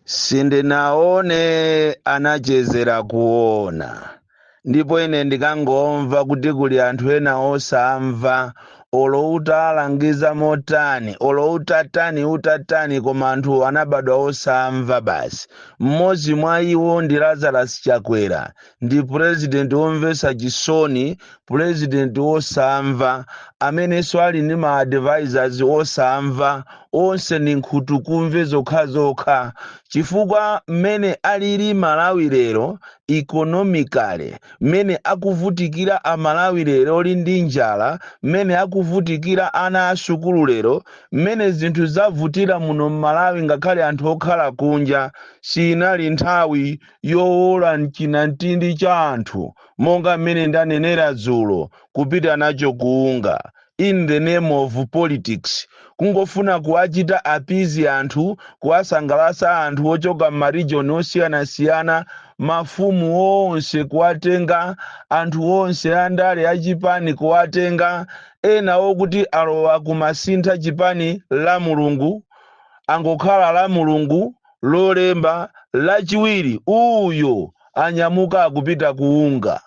sindinaone anachezela kuona ndipo ine ndikangomva kuti kuli anthu ena osamva olo utalangiza motani olo utatani utatani koma anthu anabadwa osamva basi mmodzi mwa iwo ndi lazarus chakwera ndi purezidenti womvetsa chisoni purezidenti wosamva amenenso ali ndi ma advisors osamva onse ni nkhutukumve zokhazokha chifukwa mmene alili malawi lero economically mmene akuvutikira amalawi lero ndi njala mmene akuvutikira ana asukulu lero mmene zinthu zavutira muno mmalawi ngakhale anthu okhala kunja siinali nthawi yowola m'chinamtindi cha anthu, monga mmene ndanenera dzulo, kupita nacho ku UNGA, in the name of politics, kungofuna kuwachita appease anthu, kuwasangalatsa anthu ochoka m'ma region osiyanasiyana, mafumu onse kuwatenga, anthu onse andale achipani kuwatenga, ena okuti alowa kumasintha chipani la Mulungu, angokhala la Mulungu, Lolemba, Lachiwiri, uyo anyamuka akupita ku UNGA.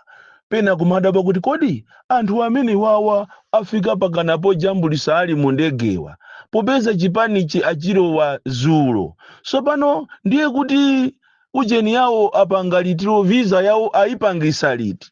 Pena kumadabwa kuti kodi anthu amene wawa afika pakana pojambulitsa ali mu ndegewa popeza chipanichi achilowa zulo. Sopano ndiye kuti ujeni yawo apanga litilo visa yawo ayipangisa liti?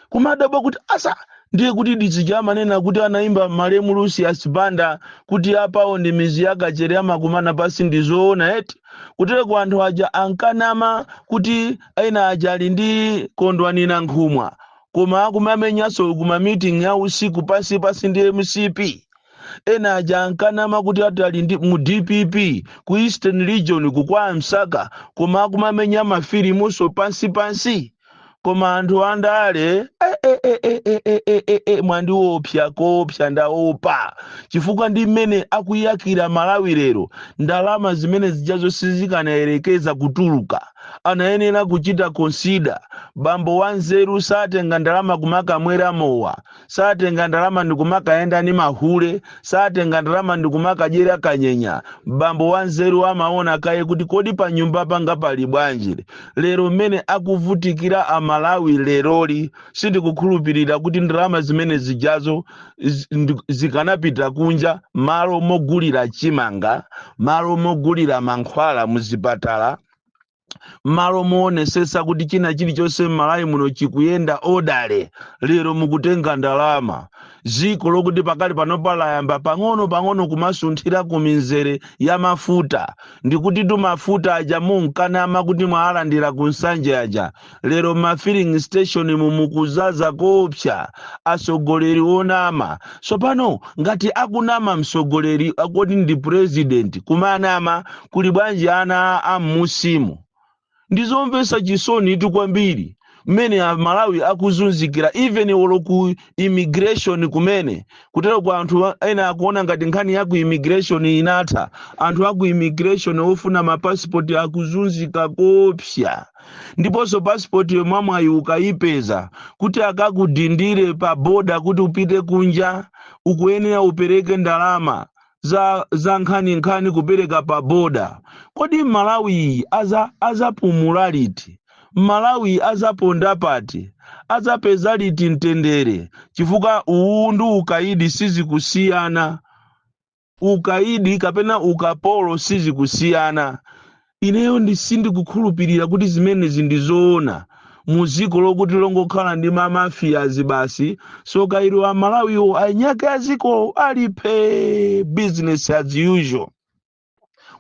kumadabwa kuti asa ndiye kuti ndi zija amanena kuti anaimba malemu lucius banda kuti apawo ndi mizi ya kachere amakumana pasi ndi zoona eti kutereko anthu aja ankanama kuti ena aja ali ndi kondwani nankhumwa koma akumamenyanso kuma meeting ya usiku pasi pasi ndi mcp ena aja ankanama kuti ati ali ndi mu dpp ku eastern region kwa msaka koma akumamenya mafilimunso pansi pansi koma anthu andale eh, eh, eh, eh, eh, eh, eh, eh, eh, mwandiopsa koopsa ndaopa chifukwa ndi mmene akuyakira malawi lero ndalama zimene zijazo sizikanayerekeza kutuluka anayenera kuchita consider bambo wanzeru satenga ndalama kumakamwera mowa satenga ndalama ndikumakayenda ni mahule satenga ndalama ndikumakadyera kanyenya bambo wanzeru amaona kaye kuti kodi pa nyumba panga pali bwanji lero mmene akuvutikira amalawi leroli sindikukhulupirira kuti ndalama zimene zijazo zikanapita kunja malo mogulira chimanga malo mogulira mankhwala muzipatala mmalo moonesetsa kuti china chilichonse m'malawi muno chikuyenda odale lero mukutenga ndalama dziko lokuti pakali panopa layamba pang'ono pang'ono kumasunthira ku mizere ya mafuta ndikuti tu mafuta aja munkanama kuti mwaalandira ku nsanja aja lero ma filling station mu mukuzaza koopsa atsogoleri onama tsopano ngati akunama mtsogoleri akoti ndi president kumanama kuli bwanji ana a mmusimu ndizomvetsa chisoni itu kwambiri mmene amalawi akuzunzikira even olo ku immigration kumene kutero kwa anthu a- ena akuona ngati nkhani ya ku immigration inatha anthu a ku immigration ofuna mapasipoti akuzunzika koopsa ndiponso pasipotiyo mwamwayi ukayipeza kuti akakudindire pa boda kuti upite kunja ukuyenera upereke ndalama za, za nkhani nkhani kupereka pa boda kodi malawi iyi azapumula liti malawi azaponda pati azapeza liti mtendere chifukwa uwu ndi ukayidi sizikusiyana ukaidi kapena ukapolo sizikusiyana ineyo ndisindikukhulupirira kuti zimenezi ndizoona mu dziko lokuti longokhala ndi mamafiyazi basi tsoka ilo amalawiwo anyake a dziko ali phee business as usual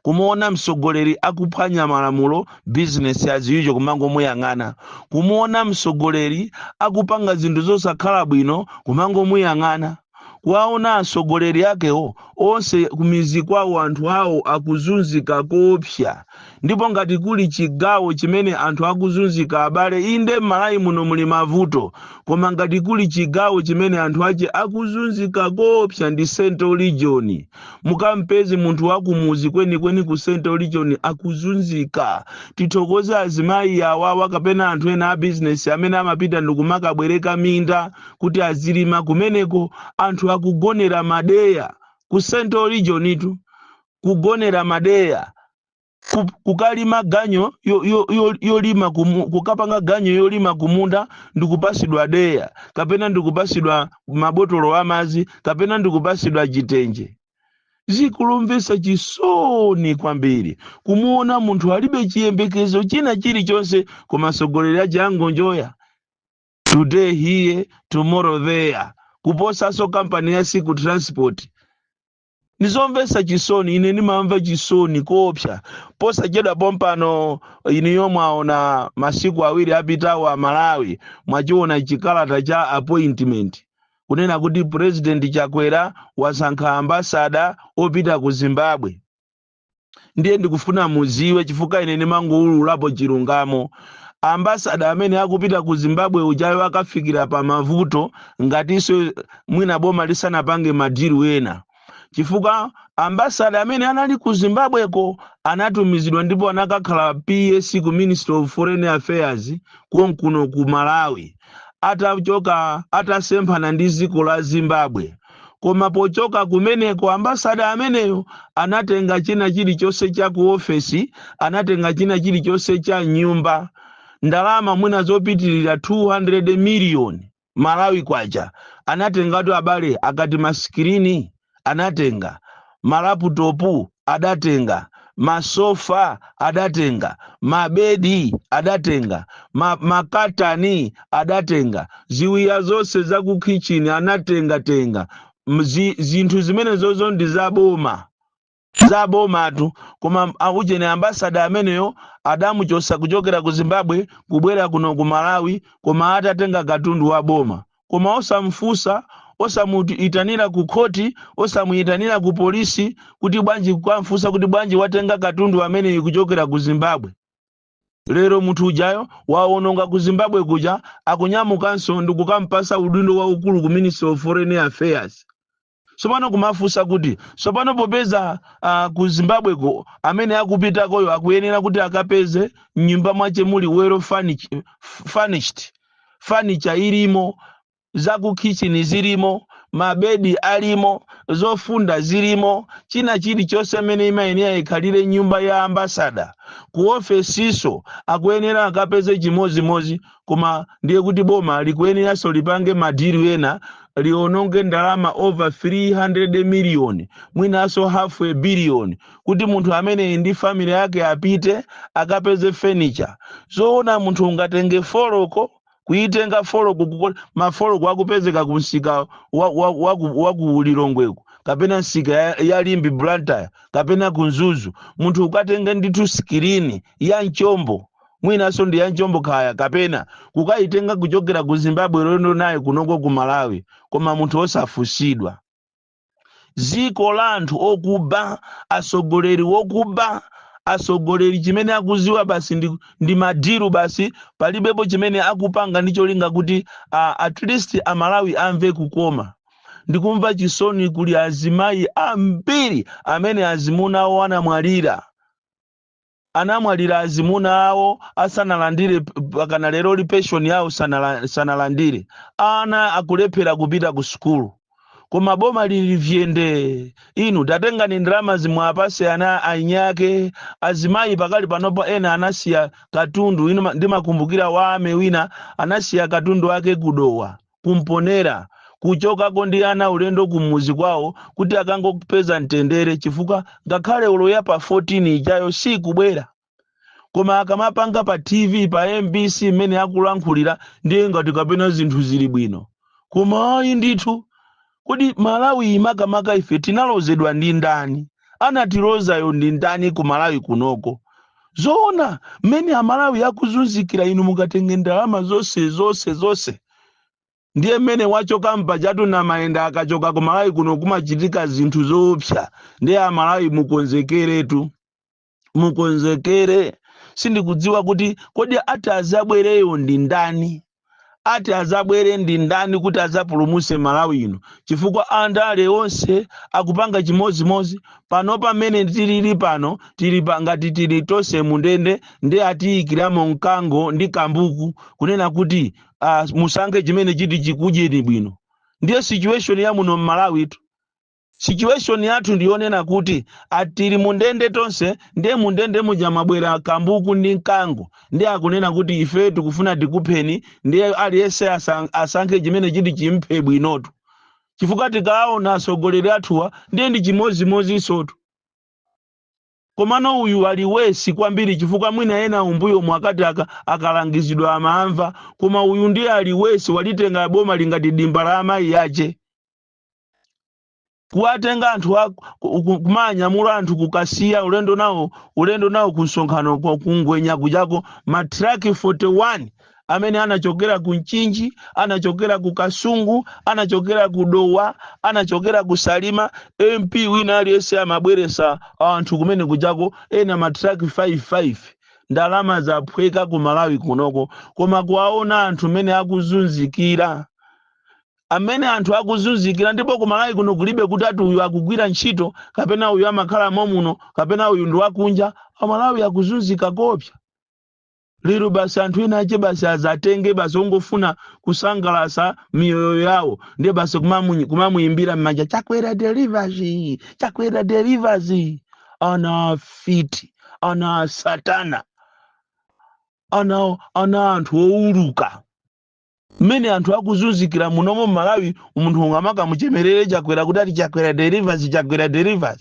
kumuona mtsogoleri akuphwanya malamulo business as usual kumangomuyang'ana kumuona mtsogoleri akupanga zinthu zosakhala bwino kumangomuyang'ana kuwaona atsogoleri akewo onse kumidzi kwawo anthu awo akuzunzika koopsa ndipo ngati kuli chigawo chimene anthu akuzunzika abale inde m'malawi muno muli mavuto koma ngati kuli chigawo chimene anthu ache akuzunzika koopsa ndi central region mukampeze munthu wakumuzi kwenikweni ku central region akuzunzika tithokoze azimayi awawa kapena anthu ena a bizinesi amene amapita ndikumakabwereka minda kuti azilima kumeneko anthu akugonera madeya ku central region tu kugonera madeya ku- kukalima ganyo yo- yo- yo- yolima kumu- kukapanga ganyo yolima kumunda ndikupasidwa deya kapena ndikupasidwa mabotolo amazi kapena ndikupasidwa chitenje zikumvesa chisoni kwambiri kumuona munthu alibe chiyembekezo china chilichonse koma atsogoleri aja angonjoya today here tomorrow there kuposaso kampani ya siku transport ndizomvesa chisoni ine ndimamva chisoni koopsa posachedwa pompano ineyo mwaona masiku awiri apitawo a malawi mwachiona chikalata cha appointment kunena kuti president chakwera wasankha ambasada opita ku zimbabwe ndiye ndikufuna muziwe chifukwa ine ndimangoululapo chilungamo ambasada amene akupita ku zimbabwe ujayo akafikira pa mavuto ngatinso mwina boma lisanapange madiru ena chifukwa ambasada amene anali ku zimbabweko anatumizidwa ndipo anakakhala PS ku ministry of foreign affairs konkuno ku malawi atachoka atasemphana ndi dziko la Zimbabwe. Koma pochoka kumeneko ambasada ameneyo anatenga china chilichonse cha ku ofesi, anatenga china chilichonse cha mnyumba, ndalama mwina zopitirira 200 miliyoni Malawi kwacha anatengatu abale akati masikirini anatenga, malaputopu adatenga, masofa adatenga, mabedi adatenga, ma, makatani adatenga, ziwiya zonse za ku kitchen anatengatenga. Mzi, zinthu zimene zozo ndi za boma. za bomatu koma aujeni ambasada ameneyo adamuchosa kuchokera ku zimbabwe kubwera kuno ku malawi koma atatenga katundu wa boma koma osamfusa osamuitanira ku khoti osamuitanira ku polisi kuti bwanji kukamfusa kuti bwanji watenga katundu ameneyu kuchokera ku zimbabwe lero munthu ujayo waononga ku zimbabwe kuja akunyamukanso ndikukampasa udindo waukulu ku ministry of foreign affairs tsopano kumafunsa kuti tsopano popeza uh, ku zimbabweko amene akupitakoyo akuyenera kuti akapeze mnyumba mwace muli well furnish- furnished fanicha ilimo zakukhichini zilimo mabedi alimo zofunda zilimo china chilichonse mmene imayenera ikhalire nyumba ya ambasada ku ofesiso akuyenera akapeze chimodzimodzi koma ndiye kuti boma likuyeneranso lipange madiru ena liononge ndalama over 300 million mwinanso half a billion kuti munthu ameneyi ndi family yake apite akapeze furniture zoona munthu ungatenge foloko kuitenga foloko kuko- mafoloko akupezeka ku msika wa, wa, wa, ku- wa ku lilongweko kapena msika ya, ya limbe blantyre kapena ku mzuzu munthu ukatenge ndithu sikirini ya mchombo mwinanso ndi ya mchombo kaya kapena kukayitenga kuchokera ku zimbabwe ulendo naye kunoko ku malawi koma munthu osafunsidwa dziko la anthu okuba atsogoleri wokuba atsogoleri chimene akuziwa basi ndi, ndi madiru basi palibepo chimene akupanga ndi cholinga kuti uh, at least amalawi amve kukoma ndikumva chisoni kuli azimayi ambiri amene azimuna awo anamwalira anamwalira azimuna awo asanalandire p- mpakana leroli pension yawo sanala- sanalandire ana akulephera kupita ku sukulu koma boma lili phee nde inu tatengani ndalama zimwe apase ana ainiake azimayi pakali panopa ena anasiya katundu inu ma- ndimakumbukira wa mayi wina anasiya katundu wake ku Dowa ku Mponela kuchokako ndi ana ulendo kumuzi kwawo kuti akangopeza mtendere chifukwa ngakhale olo ya pa 14 ijayo sikubwera koma akamapanga pa tv pa mbc mmene akulankhulira ndiye ngati kapena zinthu zili bwino koma ayi ndithu Kodi Malawi yi makamaka ife tinalozedwa ndi ndani? Anatilozayo ndi ndani ku Malawi kunoko? Zoona mmene Amalawi akuzunzikira inu mukatenge ndalama zonse zonse zonse? Ndiye mmene wachoka mpajatu Namayenda akachoka ku Malawi kuno kumachitika zinthu zoopsa. Ndiye Amalawi mukonzekeretu. mukonzekere sindikudziwa kuti kodi ati azabwereyo ndi ndani ati azabwere ndi ndani kuti azapulumuse malawi ino chifukwa andale onse akupanga chimodzimodzi pano pamene tilili pano tili pa- ngati tili tonse mundende nde atiyikiramo mkango ndi kambuku kunena kuti uh, musankhe chimene chiti chikudyeni bwino ndiye situation ya muno mmalawitu Situation yathu ndi yonena kuti a tili mundende tonse ndiye mundende muja mwabwera kambuku ndi mkango ndiye akunena kuti ife tikufuna tikupheni ndiye aliyense asang- asankhe chimene chiti chimphe bwinotu chifukwa tikaona atsogoleri athuwa ndiye ndi chimodzimodzinsotu komano uyu ali wesi kwambiri chifukwa mwina ena m'mbuyomu akati aka, akalangizidwa amamva koma uyu ndiye ali wesi walitenga bomali ngati dimba la amayi ache kuwatenga anthu a- ku- ku- kumanyamula anthu kukasiya ulendo nawo ulendo nawo ku msonkhano kwa ku Ngwenya kujako matraki 41 amene anachokera ku mchinji anachokera ku kasungu anachokera ku dowa anachokera ku salima mp wina aliyense amabweresa anthu kumene kujako ena matraki 55 ndalama zaphweka ku malawi kunoko koma kuwaona anthu mene akuzunzikira mmene anthu akuzunzikira ndipo kumalawi kuno kulibe kuti ati uyu akugwira ntchito kapena uyu amakhala momuno kapena uyu ndi wakunja amalawi akuzunzika koopsa lero basi anthu ena ache basi azatenge basi kungofuna kusangalasa miyoyo yawo ndiye basi kumamu- kumamuyimbira m'manja chakwera delivers chakwera delivers ana a fiti ana a satana ana ana anthu owuluka mmene anthu akuzunzikira munomo mmalawi munthu ungamakamuchemerere Chakwera kuti ati chakwera delivers chakwera delivers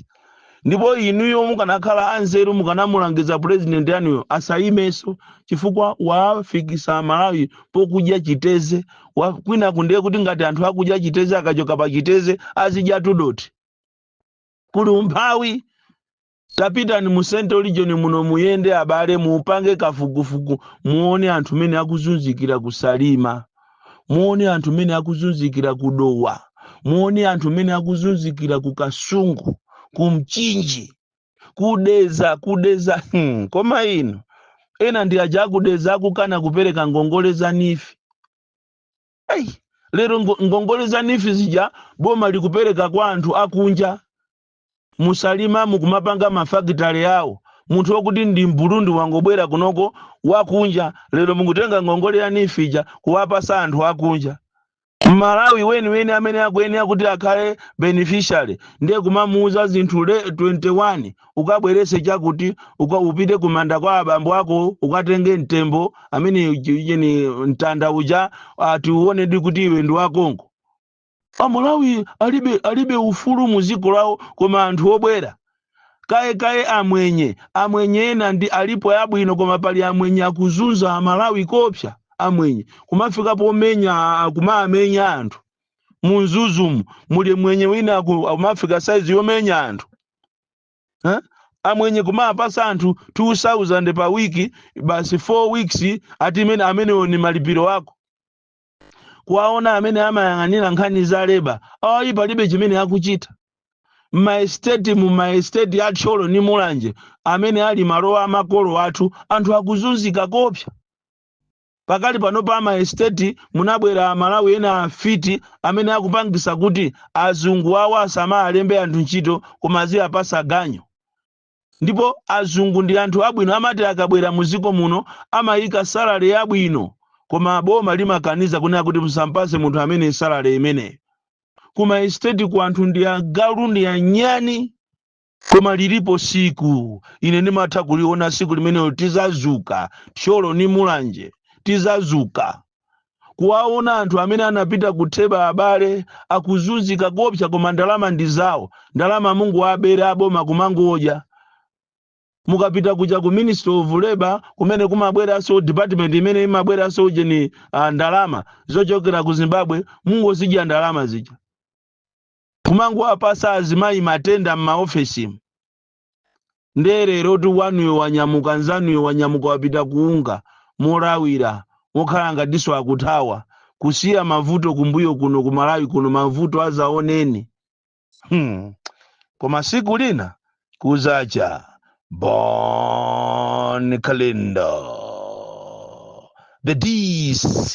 ndipo inuyo mukanakhala anzeru mukanamulangiza purezidenti anuyo asayimenso chifukwa wafikisa malawi pokudya chiteze wa- kwina ku ndiye kuti ngati anthu akudya chiteze akachoka pa chiteze azidya tudoti kuli umphawi Tapitani mu central region muno muyende abale mupange kafukufuku muone anthu mene akuzunzikira ku Salima. Muone anthu mene akuzunzikira ku Dowa. Muone anthu mene akuzunzikira ku Kasungu, ku Mchinji, ku Dedza ku Dedza hmm. Koma inu ena ndi aja a ku Dedza akukana kupereka ngongole za NEEF. Hey, lero ngo- ngongole za NEEF zija boma likupereka kwa anthu akunja mu Salima mukumapanga mafakitale awo munthu wokuti ndi mburundi wangobwera kunoko wakunja lero mukutenga ngongole ya NEEF ija kuwapasa anthu akunja mmalawi weniweni amene akuyenera kuti akhale beneficiary ndiye kumamuuza zinthu le 21 ukabwerese chakuti uka upite kumanda kwa abambo ako ukatenge mtembo amene uji- ujeni mtanda uja ati uonedwe kuti iwe ndi wa Congo amalawi alibe alibe ufulu mu dziko lawo koma anthu obwera kaye kaye amwenye amwenye ena ndi alipo abwino koma pali amwenye akuzunza amalawi kopsa amwenye kumafika pomenya a- a- kumaamenya anthu mu Mzuzumu muli mwenye wina aku- akumafika saizi yomenya anthu Eh? amwenye kumapasa anthu 2000 pa wiki basi 4 weeks ati imene amenewo ni malipiro ako kuwaona amene amayang'anira nkhani za leba awayi palibe chimene akuchita m'maesiteti mu maesiteti a Thyolo ndi mulanje amene ali malowa a makolo athu anthu akuzunzika kopsa pakali pano pa maesiteti munabwera amalawi ena afiti amene akupangisa kuti azungu awo asamalembe anthu ntchito koma aziyapasa ganyu ndipo azungu ndi anthu abwino amati akabwera muziko muno amayika salary yabwino koma boma limakaniza kunena kuti musampase munthu ameneyu salary imeneyo kuma estate ku anthu ndi agalu ndi anyani koma lilipo siku ine ndimatha kuliona siku limenelo tizazuka thyolo ni mulanje tizazuka kuwaona anthu amene anapita ku Theba abale akuzunzika koopsa koma ndalama ndi zawo ndalama mungoabera aboma kumangodya mukapita kuja ku ministry of labor kumene kumabweranso department imene imabweranso ujeni uh, ndalama zochokera ku zimbabwe mungozidya ndalama zija kumangowapasa azimayi matenda m'maofesimu nde lero uti wanuyo wanyamuka nzanuyo wanyamuka wapita ku UNGA molawira mokhala ngatiso akuthawa kusiya mavuto kumbuyo kuno ku malawi kuno mavuto azaoneni hmm. koma siku lina kuzacha bon kalindo the dc